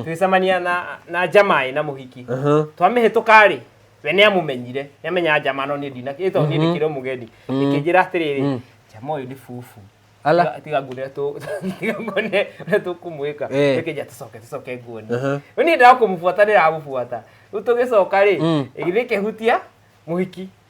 twicamania na na njamaĩ na mũhiki Aha. twamĩhĩtũka rĩ we nĩ amũmenyire nĩ amenyaga njama no niĩ ndina ĩtwa niĩ ndĩkĩrĩ mũgeni ĩkĩnjĩra atĩrĩrĩ njama ũyũ nĩ bubu Ala. Tiga- tiga ngune tũ- tiga ngune ũrĩa tũkũmwĩka Eh. ĩkĩnja tũcoke tũcoke nguone Aha. rĩu niĩ ndakũmũbuata ndĩramũbuata rĩu tũgĩcoka rĩ ĩgĩthiĩ ĩkĩhutia mũhiki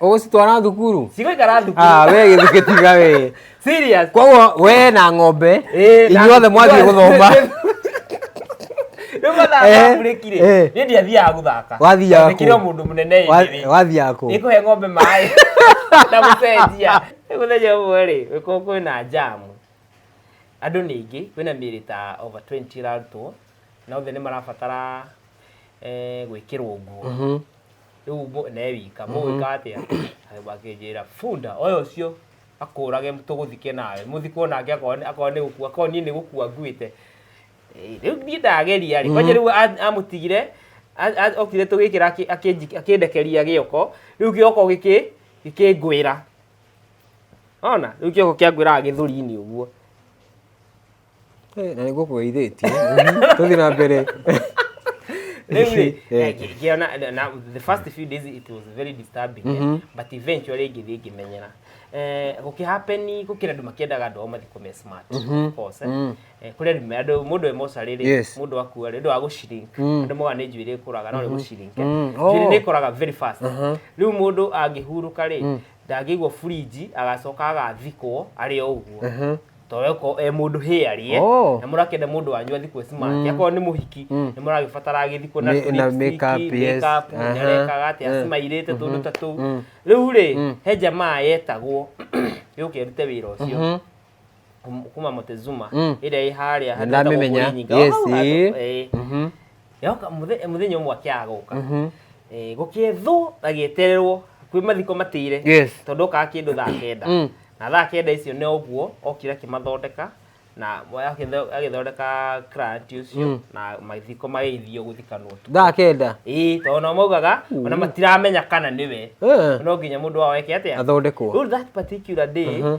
ũgũcitwara thukuru cigũikara thukuru ah we gĩthukĩ tiga we serious koguo we na ng'ombe Eh, na- inyuothe mwathiĩ gũthoma rĩu mathaa Eh, makurĩkire eh. niĩ ndiathiaga gũthaka Wathiaga kũ? ndĩkire mũndũ mũnene Wa- ĩndĩ wathiaga kũ ĩkũhe ng'ombe maĩ na gũcenjia Rĩu mũthenya ũmwe rĩ wĩko kwĩna njamu andũ nĩ aingĩ kwĩna mĩrĩ ta over 20 ĩrarutwo na othe nĩ marabatara eh, gwĩkĩrwo nguo Mhm. rĩu mũ- ne wika mũgwĩka atĩa Agĩkwa- akĩnjĩra bunda oya ũcio akũrage tũgũthike nawe mũthikwo nake akorwo nĩ- akorwo nĩ gũkua akorwo niĩ nĩ gũkua nguĩte Eh, rĩu niĩ ndageria rĩ kwanja rĩu a- amũtigire a- a- okire tũgĩkĩra akĩ- akĩnji- akĩndekeria gĩoko rĩu gĩoko gĩkĩ gĩkĩngwĩra ona rĩu kĩoko kĩangwĩraga gĩthũri-inĩ ũguo Eh, na nä gå kå geithä tie tå thiä na mbere Rĩu rĩ, Eh. eh, ngĩ- ngĩona na- na the first few days it was very disturbing eh, but eventually ngĩthiĩ ngĩmenyera Eh, gũkĩhapeni gũkĩrĩ andũ makĩendaga andũ ao mathikũ me smart of course, eh. Eh, kũrĩ andũ me- andũ mũndũ e mocarĩ rĩ Yes. mũndũ akua rĩ ũndũ wa gũcirink andũ moga nĩ njuĩrĩ ĩkũraga no nĩ gũcirink Mm. njuĩrĩ Oh. nĩ ĩkũraga very fast rĩu mũndũ angĩhurũka rĩ ndangĩigwo burinji agacoka agathikwo arĩ o ũguo toreko e mũndũ hĩ arie Oh. na mũrakenda mũndũ wanyu athi kwĩ smart Mm. akorwo nĩ mũhiki Mm. nĩ mũragĩbatara agĩthi kwĩ na Me- na lipstick, makeup, yes. makeup, Aha. mũnyarekaga atĩ Eh. acimairĩte tũndũ Mhm. ta tũu Mm. rĩu rĩ Mm. he jamaa yetagwo yũke erute wĩra ũcio Mhm. kum- kuma Montezuma Mm. ĩrĩa ĩ harĩa Nĩndamĩmenya. Yes, eh. Mhm. Yoka mũthe- mũthenya ũmwe akĩaga gũka Mhm. Eh, gũkĩethwo na gĩetererwo kwĩ mathiko matĩire Yes. tondũ okaga kĩndũ thaa kenda Mm. na thaa kenda icio nĩ ũguo okire akĩmathondeka na agĩtho- agĩthondeka grant ũcio Mm. na mathiko magĩithio gũthikanwo tu Thaa kenda. ĩĩ tondũ nao maugaga ona matiramenya kana nĩwe Eh. no nginya mũndũ wao eke atĩa Athondekwo. rĩu that particular day Mhm.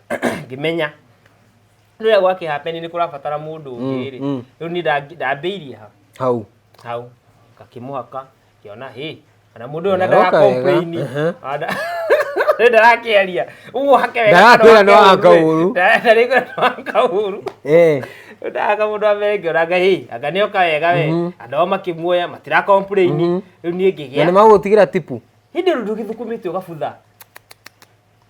ngĩmenya rĩrĩa gwakĩhapeni nĩ kũrabatara mũndũ ũngĩ rĩ mm. rĩu niĩ ndangi- ndambĩirie ha hau hau ngakĩmũhaka ngĩona hĩ kana mũndũ ũyũ ona Ndarooka wega, ndarakomplaini ehe. rä ndarakĩaria ũguo hake wega Ndarakwĩra no anga ũũru. ndarakwĩra no anga ũru Eh, ndaga må ndå amere ngä ona ngai anga nä oka wega we andå ao makä muoya matirakomplaini rä u niä ngä gä na nĩ a magũtigĩra tipu hä ndä rå ndå gä thukumä te å gabutha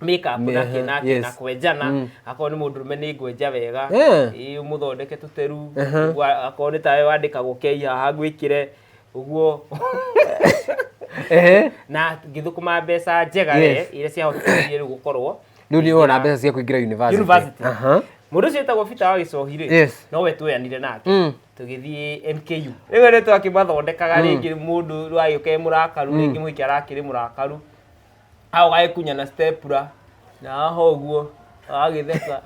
makeup Me- na kĩ na kĩ yes. na kwenjana akorwo nĩ mũndũ rũme nĩ ngwenja wega Eh. ĩ, mũthondeke tũteru ũguo akorwo nĩ tawe wandĩkagwo kei haha ngwĩkĩre ũguo Ehe. na ngĩthũkũma mbeca njega Yes. yes. iria ciahotithirie rĩu gũkorwo rĩu nĩ wona mbeca cia kũingĩra university University. Aha. mũndũ ũcio wĩtagwo bita wa gĩcohi rĩ Yes. no we tweyanire nake Mm. tũgĩthiĩ mku rĩu nĩ twakimathondekaga rĩngĩ mũndũ rwagĩũka e mũrakaru rĩngĩ mũhiki arakĩrĩ mũrakaru hau gagĩkunya na stepra na haha ũguo agagĩtheka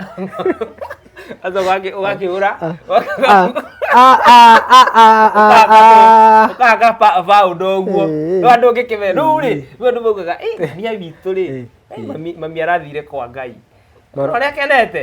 aca ũgakĩhũra ũkaga baũndũ ũguo Ĩĩ. no andũ ũngĩkĩmena rĩu rĩ rĩu andũ maugaga "Ĩ, mami witũ rĩ mami- mami arathire kwa ngai Maro- ũrĩa akenete